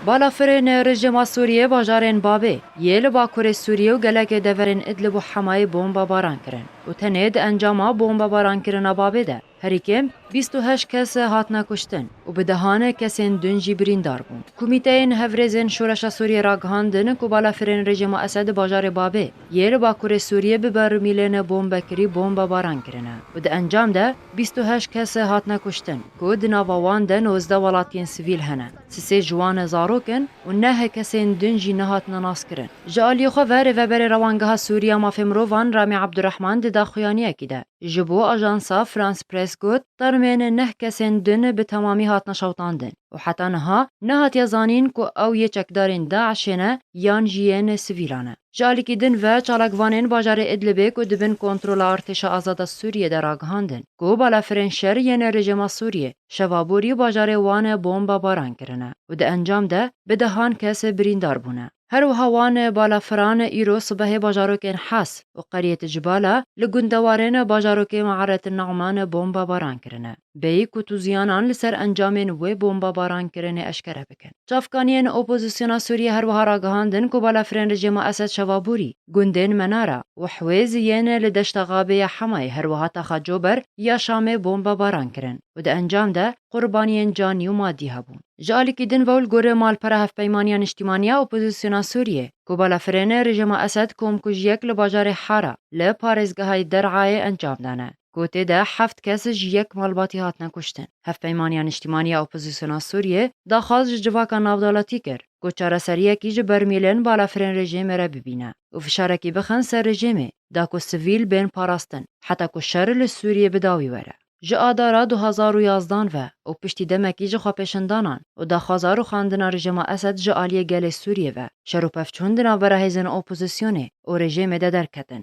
Balafirên rejîma Sûriyê bajarên Babê yê li bakurê Sûriyê û gelekê deverên Idlib û Hemayê bombebaran kirin û tenê di encama bombebarankirina Babê de herî kêm bîst û heşt kes hatine kuştin û bi dehan kesên din jî birîndar bûn. Komîteyên Hevrêzên Şoreşa Sûriyê ragihandin ku balafirên rejîma Esed di bajarê Babê, Yê li Bakurê Sûriyê bi berûmîlên bombekirî bombebaran kirine û di encam de bîst û heşt kes hatine kuştin ku di nava wan de nozdeh welatiyên sivîl hene, sisê ji wan zarok in û neh kesên din jî nehatine naskirin. Ji aliyê xwe ve Rêveberê Rewangeha Sûrî ya Mafê Mirovan Ramî Ebdurehman di daxuyaniyekî de ji bo ajansa France Press got, Termên neh kesên din bi temamî hatine şewitandin û heta niha nehatiye zanîn ku ew yê çekdarên DAIŞ'ê ne yan jî yên sivîlan e. Ji alîkî din ve çalakvanên bajarê Idlibê ku di bin kontrola Artêşa Azada Sûriyê de ragihandin ku balafirên şer yên rejîma Sûriyê şeva borî bajarê wan bombebaran kirine û di encam de bi dehan kes birîndar bûne. Her wiha wan balafiran îro sibehê bajarokên Has û Qeriyet Cibala li gundewarên bajarokê Me'aret Ne'man bombebaran kirine. bêyî ku tûziyanan li ser encamên wê bombabarankirinê eşkere bikin. Çavkaniyên opozisyona Sûriyê her wiha ragihandin ku balafirên rejîma Esed Şevaborî, gundên Menara û Hwêz yên li deşta Gabê ya Hemayê her wiha taxa Cober ya Şamê bombabaran kirin û di encam de qurbaniyên canî û madî hebûn. Ji alîkî din ve û li gorî malpera Hevpeymaniya Niştîmanî ya Opozisyona Sûriyê ku balafirên rejîma Esed komkujiyek li bajarê Hara li parêzgehayê Der'ayê encam dane. ku tê de heft kes ji yek malbatî hatine kuştin. Hevpeymaniya Niştîmanî ya Opozîsyona Sûriyê daxwaz ji civaka navdewletî kir ku çareseriyekî ji bermîlên balafirên rejîmê re bibîne û fişarekî bixin ser rejîmê da ku sivîl bên parastin heta ku şer li Sûriyê bi dawî were. Ji Adara du hezar û yazdan ve û piştî demekî ji xwepêşandanan û daxwaza rûxandina rejîma Esed ji aliyê gelê Sûriyê ve, şer û pevçûn di navbera hêzên opozîsyonê û rejîmê de derketin.